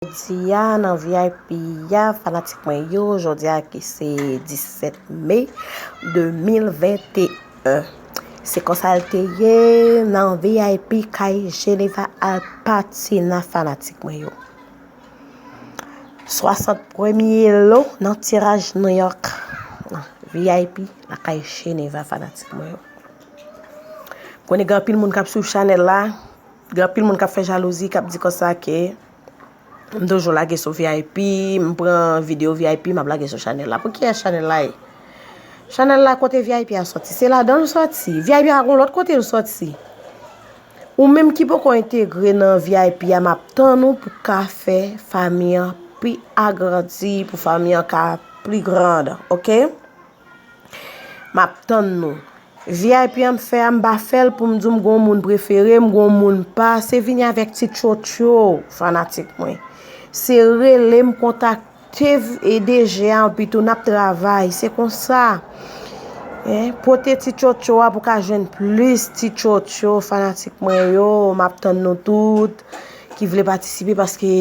Jodia nan vip ya fanatik mwen yo jodia ki se 17 mai 2021 se konsal te ye nan vip kay Geneva Alpatina fanatik mwen yo 60 premye lo nan tiraj New York vip la kay Geneva fanatik mwen yo konen gen anpil moun kap swiv chanel la gen anpil moun kap fè jalouzi kap di konsa ke M toujou lage sou vip, m pran video vip m ap lage sou chanèl la. Pou kiyès chanèl la ye? Chanèl la kote vip a soti. Se ladan l soti. Vip a gon lòt kote l soti. Ou menm ki poko entegre nan vip a m ap tann ou pou ka fè fanmi an pi agrandi, pou fanmi an ka pi grand. Ok? Map tann nou. Vip an m fè a m pa fèl poum diw m gon moun prefere m gon moun pa se vini avèk ti tchotcho fanatik mwen se relem kontak tev e DG a anpitou nap travay se konsa pote ti tchotcho a pou ka jwenn plis ti tchotcho fanatik mwen yo map tann nou tout ki vle patisipe paske.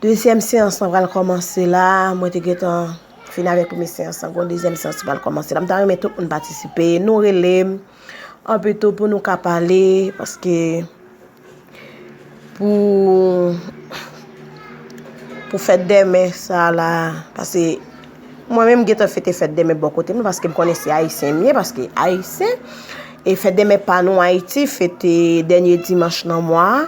Dezyèm seyans lan pral kòmanse la, mwen te gentan fini avèk premye seyans lan, gon dezyèm seyans ki pral kòmanse la, m ta renmen tout moun patisipe, nou rele m, an pito pou nou ka pale, paske, pou, pou fèt demen sa la, pase, mwen menm m gentan fete fèt demen bò kote m, paske m konnen se ayisyen m ye, paske ayisyen, e fèt demen pa nou ayiti, fete dènye dimanch nan mwa a.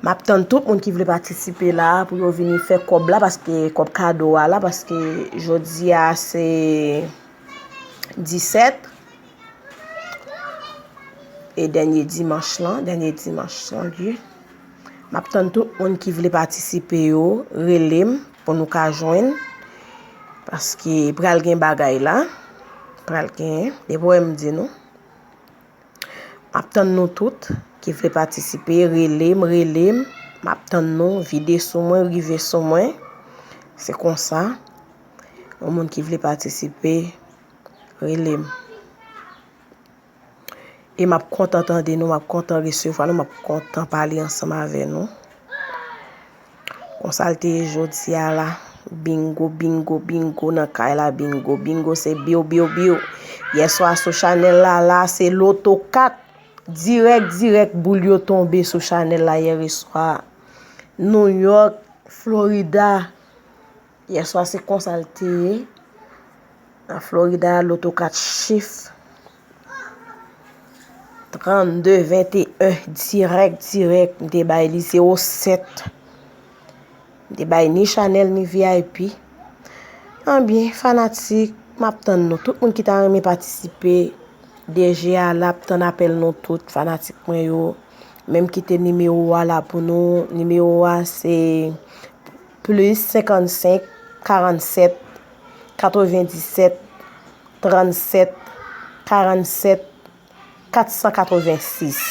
Map tann tout moun ki vle patisipe la pou yo vini fè kòb la paske kòb kado a la paske jodi a se 17 e dènye dimanch lan dènye dimanch lan ui map tann tout moun ki vle patisipe yo rele m pou nou ka jwenn paske pral gen bagay la pral gen depi wè m di nou. Map tann nou tout ki vle patisipe relem relem map tann nou vide sou mwen rive sou mwen se konsa yon moun ki vle patisipe relem e map kontan tande nou map kontan resevwa nou map kontan pale ansanm avè nou. Konsa l te ye jodi a la. Bingo bingo bingo nan kay la bingo bingo se biw biw biw yèswa sou chanèl la la se loto 4 dirèk dirèk boul yo tonbe sou chanèl la yèreswa Nouyòk Florida Yèswa se konsa l te ye. Nan Florida, loto 4 chif. 32, 21, dirèk, dirèk. M te bay li 0, 7. M te bay ni Chanel, ni VIP. Anbyen, fanatik, m ap tann nou. Tout moun ki ta renmen patisipe, DG a la ap tann apèl nou tout, fanatik mwen yo. Menm kite nimewo a la pou nou. Nimewo a se... Plis 55 47 97 37 47 486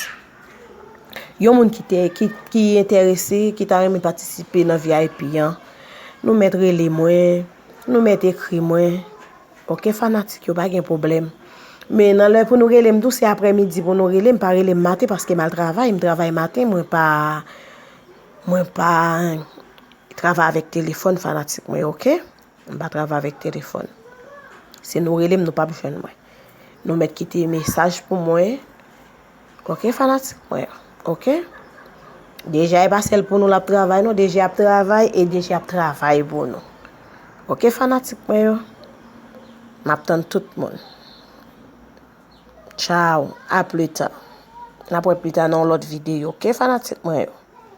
Yon moun ki te ki enterese ki ta renmen patisipe nan vip an nou mèt rele mwen nou mèt ekri mwen ok fanatik yo pa gen pwoblèm men nan lè pou nou rele m tou se aprè midi pou nou rele m pa rele m maten paske m al travay m travay maten mwen pa Mwen pa travay avèk telefòn fanatik mwen yo ok. Mwen pa travay avèk telefòn. Si nou rele m nou pap jwenn mwen. Nou mèt kite mesaj pou mwen ok fanatik mwen yo ok. Deja e pa sèl pou nou l ap travay non. Deja ap travay e deja ap travay pou nou. Ok fanatik mwen yo. M ap tann tout moun. Tchaw a plita. N ap wè plita nan yon lòt videyo ok fanatik mwen yo.